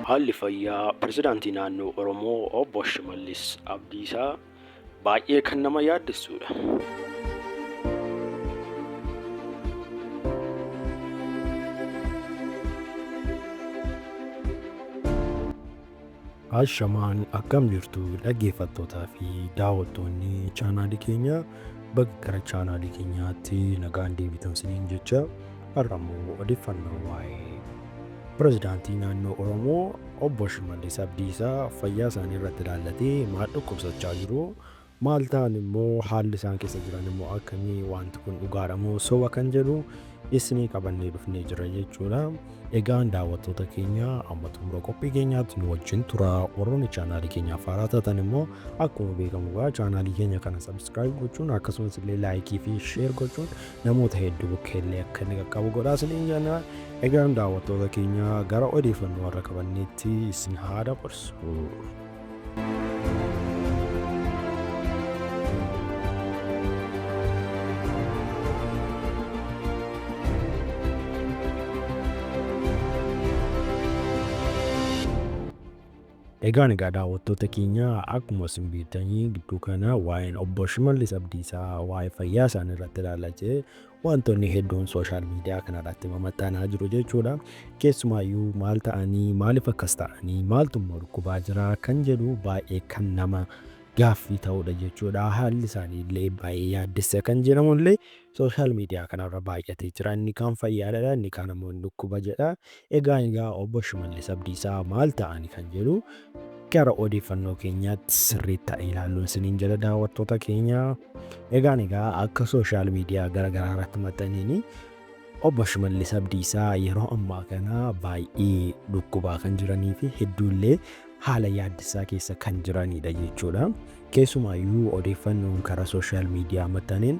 Haalli fayyaa pirezidaantii naannoo Oromoo obbo Shimallis Abdiisaa baay'ee kan nama yaaddessuudha. Ashamaan akkam jirtu dhaggeeffattootaa fi daawwattoonni chaanaalii keenya bakka gara chaanaalii keenyaatti nagaan deebitan siniin jecha har'a immoo odeeffannoo waa'ee pirezidaantii naannoo Oromoo obbo Shimallis Abdiisaa fayyaa isaanii irratti ilaallatee maal dhukkubsachaa jiru Maal ta'an immoo, haalli isaan keessa jiran immoo akkami, waanti kun dhugaa dha moo soba kan jedhu isinii qabannee dhufnee jira jechuu dha. Egaa daawwattoota keenya amma xumura qophii keenyaatti nu wajjin tura. Warroonni chaanaalii keenyaaf haaraa taatan immoo akkuma beekamu egaa chaanaalii keenya kana sabiskiraayib gochuun akkasumas illee laayikii fi sheer gochuun namoota hedduu bakka illee akka inni qaqqabu godhaa isiniin jenna. Egaan daawwattoota keenya gara odeeffannoo warra qabanneetti isin haa dabarsu. Egaan egaa daawwattoota keenya akkuma isin beektanii gidduu kana waa'een obbo Shimallis Abdiisaa waa'ee fayyaa isaanii irratti ilaalla jee Waantonni hedduun sooshaal miidiyaa kanarratti mamaxxanaa jiru jechuudha. Keessumaayyuu maal ta'anii, maaliif akkas ta'anii, maaltu immoo dhukkubaa jira kan jedhu baay'ee kan nama gaaffii ta'udha jechuudha. Haalli isaanii illee baay'ee yaaddessa kan jedhamu illee sooshaal miidiyaa kanarra baay'atee jira. Inni kaan fayyaadha, inni kaan ammoo hin dhukkuba jedha. Egaa egaa Obbo Shimallis Abdiisaa maal ta'ani kan jedhu gara odeeffannoo keenyaatti sirriitti haa ilaalluun isiniin jedha daawwattoota keenya. Egaan egaa akka sooshaal miidiyaa gara garaa irratti maxxaneen Obbo Shimallis Abdiisaa yeroo ammaa kana baay'ee dhukkubaa kan jiranii fi hedduullee haala yaaddessaa keessa kan jiranidha jechuudha. Keessumaayyuu odeeffannoon karaa sooshaal miidiyaa maxxaneen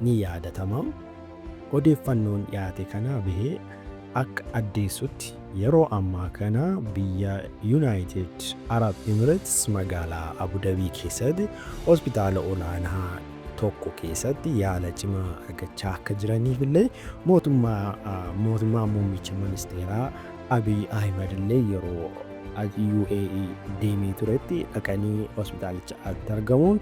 ni yaadatama. Odeeffannoon dhiyaate kanaa bahee akka addeessutti yeroo ammaa kana biyya Yunaayitid Arab Emireets magaalaa Abu Dabii keessatti hospitaala olaanaa tokko keessatti yaala cimaa argachaa akka jiraniif illee mootummaa muummicha ministeeraa Abiy Ahimad illee yeroo UAE deemee turetti dhaqanii hospitaalicha argamuun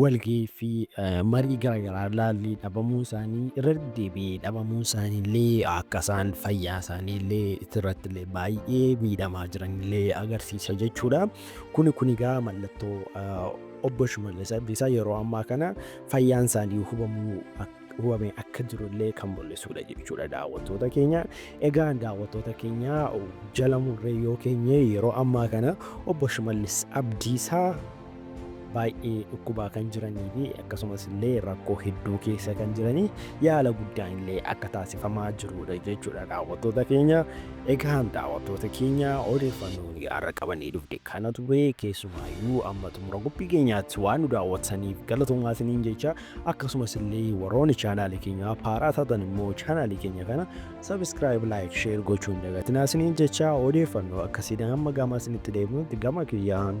Walgahii fi marii garaagaraa ilaallee dhabamuun isaanii irra deddeebi'ee dhabamuun isaanii illee akka isaan fayyaa isaanii illee irratti illee baay'ee miidhamaa jiran illee agarsiisa jechuudha. Kuni kun egaa mallattoo obbo Shimallis Abdiisaa yeroo ammaa kana fayyaan isaanii hubamuu hubamee akka jiru illee kan mul'isudha jechuudha daawwattoota keenya. Egaa daawwattoota keenya jala murree yoo keenye yeroo ammaa kana obbo Shimallis Abdiisaa baay'ee dhukkubaa kan jiranii fi akkasumas illee rakkoo hedduu keessa kan jiranii yaala guddaan illee akka taasifamaa jirudha jechuudha daawwattoota keenya. Egaan daawwattoota keenya odeeffannoo har'a qabannee dhufne kana ture keessumaayyuu amma xumura qophii keenyaatti waan nu daawwattaniif galatoomaa isiniin jecha akkasumas illee warroonni chaanaalii keenya haaraa taatan immoo chaanaalii keenya kana sabiskiraayib laayik sheer gochuun dagatinaa isiniin jecha odeeffannoo akkasiidhaan amma gaamaa isinitti deebinutti gama kiyyaan